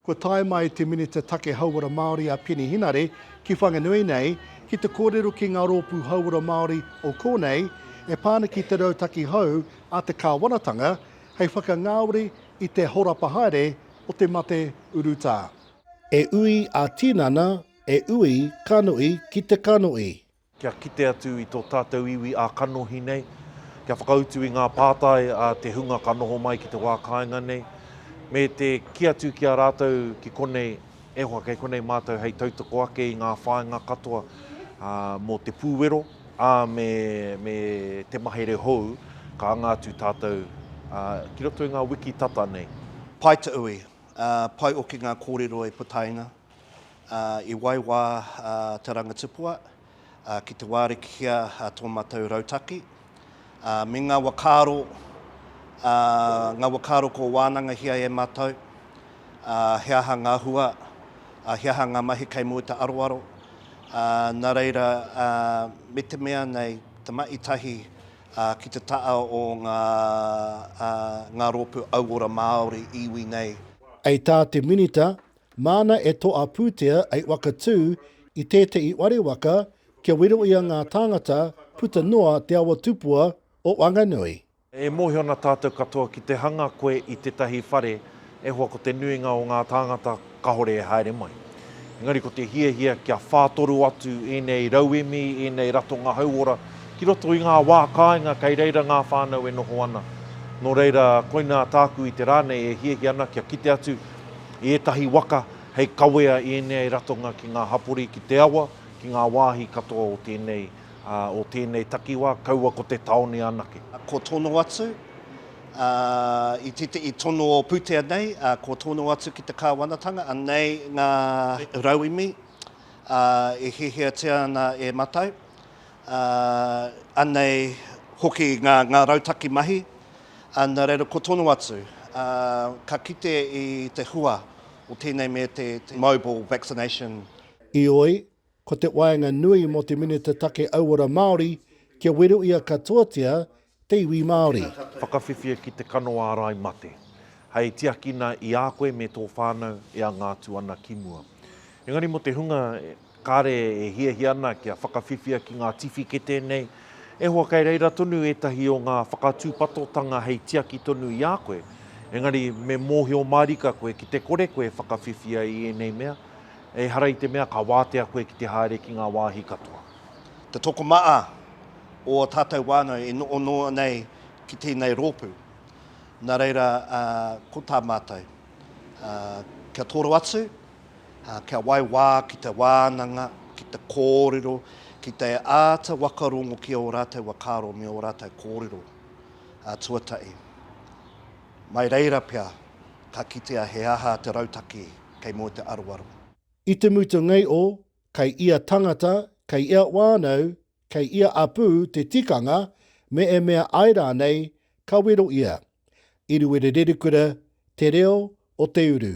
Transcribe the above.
Kua tae mai te Minita Take Hauora Māori a Peeni Henare ki Whanganui nei ki te kōrero ki ngā rōpū hauora Māori o kōnei e pā ana ki te rautaki hou a te kāwanatanga hei whakangāore i te horapa haere o te mate urutā. E ui ā-tinana, e ui kanohi ki te kanohi. kia kite atu i tō tātou iwi ā-kanohi nei, kia whakautu i ngā pātai a te hunga ka noho mai ki te wā kāinga nei, me te kī atu ki a rātou ki konei, e hoa, kei konei mātou hei tautoko ake i ngā whāinga katoa mō te pūwero, ā, me te mahere hou ka anga atu tātou ki roto i ngā wiki tata nei. Pae te ui, pae oke ngā kōrero e putaina, ā, i waiwā te rangatipua ki te wārikitia tō mātou rautaki, ā, me ngā wakaaro, ā, ngā wakaaro kua wānangahia e mātou, ā, he aha ngā hua, ā, he aha ngā mahi kei mua i te aroaro, ā, nā reira, ā, me te mea nei, te mahi tahi ki te taha o ngā, ā, ngā rōpū auora Māori, iwi nei. Hei tā te Minita, Māna e toa pūtea ei waka tū i tētehi ware waka kia weroia ngā tāngata puta noa Te Awa Tupua o Wanganui. E mōhio ana tātou katoa ki te hanga koe i tētahi whare e hoa ko te nuinga o ngā tāngata kāore e haere mai. Engari ko te hiahia kia whātoro atu ēnei rauemi, ēnei ratonga hauora ki roto i ngā wā kāinga kei reira ngā whānau e noho ana. Nō reira koinā tāku i te rā nei e hiahia ana kia kite atu, I ētahi waka, hei kawea i ēnei ratonga ki ngā hapori ki te awa, ki ngā wāhi katoa o tēnei, ā, o tēnei takiwā, kaua ko te tāone anake. Kua tono atu, ā, i tētehi tono o pūtea nei, ā, kua tono atu ki te kāwanatanga, anei ngā rauemi, ā, e hiahiatia ana e Matau, Ā, anei hoki ngā, ngā rautaki mahi, ā, nā reira ko tonu atu, ā, ka kite i te hua o tēnei me te, te mobile vaccination. Heoi, ko te waenga nui mō te Minita Take Auora Māori kia wero ia katoatia te iwi Māori. Whakawhiwhia ki te kano ārai mate, hei tiakina i a koe me tō whānau e anga atu ana ki mua. Engari mō te hunga kāre e hiahia ana kia whakawhiwhia ki ngā tiwhikete nei, e hoa kei reira tonu ētahi o ngā whakatūpatotanga hei tiaki tonu i a koe, engari me mōhio mārika koe ki te kore koe e whakawhiwhia i ēnei mea, ehara i te mea ka wātea koe ki te haere ki ngā wāhi katoa. Te tokomaha o ō tātou whānau e noho noa nei ki tēnei rōpū. Nā reira, ko tā mātou, kia toro atu, kia whai wā ki te wānanga, ki te kōrero, ki te āta whakarongo ki ō rātou whakaaro me ō rātou kōrero tuatahi. Mai reira pea, ka kitea he aha te rautaki kei mua te aroaro. I te mutunga o Kei ia tangata, kei ia wānau, kei ia apū te tikanga me e mea ai rānei ka wero ia. Iruwerererukura te reo o te uru.